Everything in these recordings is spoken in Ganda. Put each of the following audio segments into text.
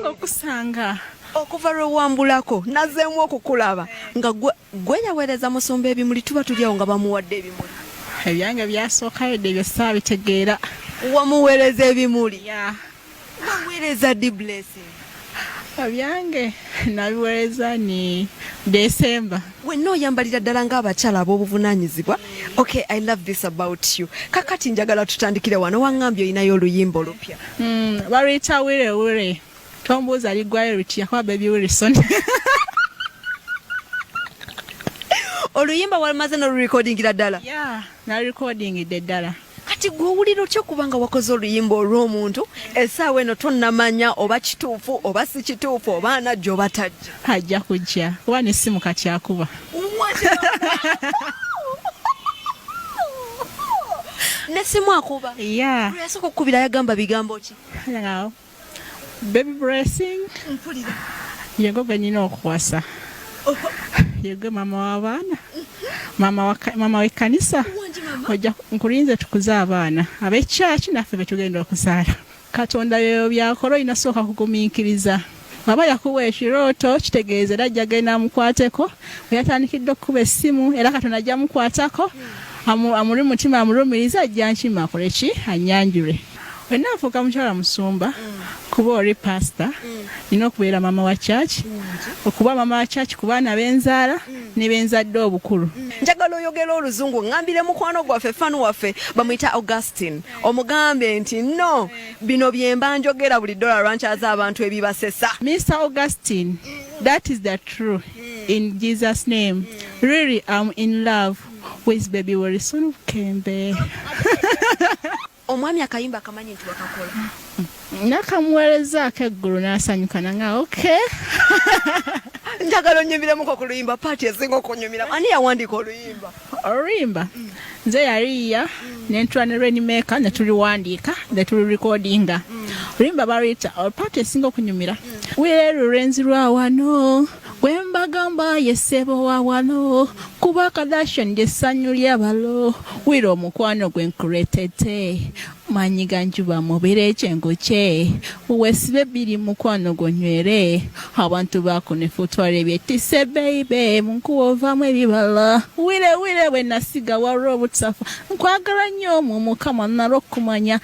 okusanga okuva lwe wambulako nazeemu okukulaba nga gwe yaweereza musumba ebimuli tuba tulyawo nga bamuwadde ebimuli ebyange byasookayo dde ebyo saabitegeera wamuweereza ebimuli waweereza di blessing ebyange nabiweereza ni desemba wenna oyambalira ddala ng'abakyala ab'obuvunaanyizibwa okay i love this about you kakati njagala tutandikire wano waŋŋambye olinayo oluyimba olupya hmm, baluyita wire wire tombuuza liggwayo lutya kuba baby wilson oluyimba walumaze n'olurekodingira ddala nalurekodingidde ddala kati gwe owulira otya kubanga wakoze oluyimba olw'omuntu esaawa eno tonamanya oba kituufu oba si kituufu oba anajja oba tajja ajja kujja kuba nesimu kati akuba nesimu akuba yasooka okukubira yagamba bigambo ki Baby blessing. Mpulira. Yego ganyina okuwasa. Yego mama wa bana. Mama wa mama wa kanisa. Oja nkulinze tukuze abana. Abe church nafe betugenda okusala. Katonda yoyo byakoro inasoka kuguminkiriza. Baba yakuwa ekirooto kitegeeza era ajja genda amukwateko weyatandikidde okukuba essimu era katonda ajja amukwatako amuli mutima amulumiriza ajja nkima akole ki anyanjule Wena afuuka mukyala musumba kuba oli pasita nina okubeera mama wa church okuba mama wa church ku baana benzaala ne benzadde obukulu njagala oyogera oluzungu ngambire mukwano gwaffe fan waffe bamuyita augustin omugambe nti no bino byemba njogera buli dola lwankyaza abantu ebibasesa mr augustin that is the true in jesus name really am in love with baby wilson kembe Omwami akayimba akamanyi nti wakakola. Nakamuweerezaako eggulu n'asanyuka nanga okay. Njagala onnyumiramuko ku luyimba paati esinga okunyumiramu. Ani yawandiika oluyimba? Oluyimba mm. nze yaliiya mm. ne ntula ne Rainmaker ne tuliwandiika ne tulirekodinga. Mm. Oluyimba baluyita oh, paati esinga okunyumira. Wire lulenzi lwa wano. Gwembagamba ye ssebo wa wano kuba Kardashian lye ssanyu ly'abalo wira omukwano gwe nkureetedde maanyi ga njuba mubire ekyengo kye weesibe bbiri mukwano gonywere abantu bakunefu twala ebyetise beibe munkuwa ovaamu ebibala wire wire bwe nasiga waliwo obutafa nkwagala nnyo mu mukama nalw'okumanya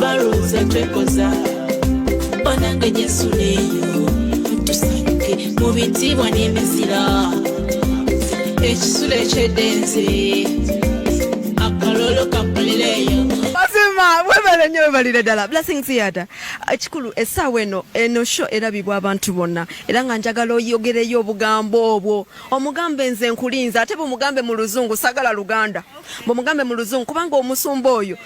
balowooza twekoza banange yesu neyo tusanyuke mu bitiibwa n'emizira ekisula ekyedenzi akalolo kakolereyo mazima webale nyo webalire ddala blessings yada ekikulu esaawa eno eno sho erabibwa abantu bonna era nga njagala oyogereyo obugambo obwo omugambe nze nkulinza ate bumugambe mu luzungu sagala luganda bumugambe mu luzungu kubanga omusumba oyo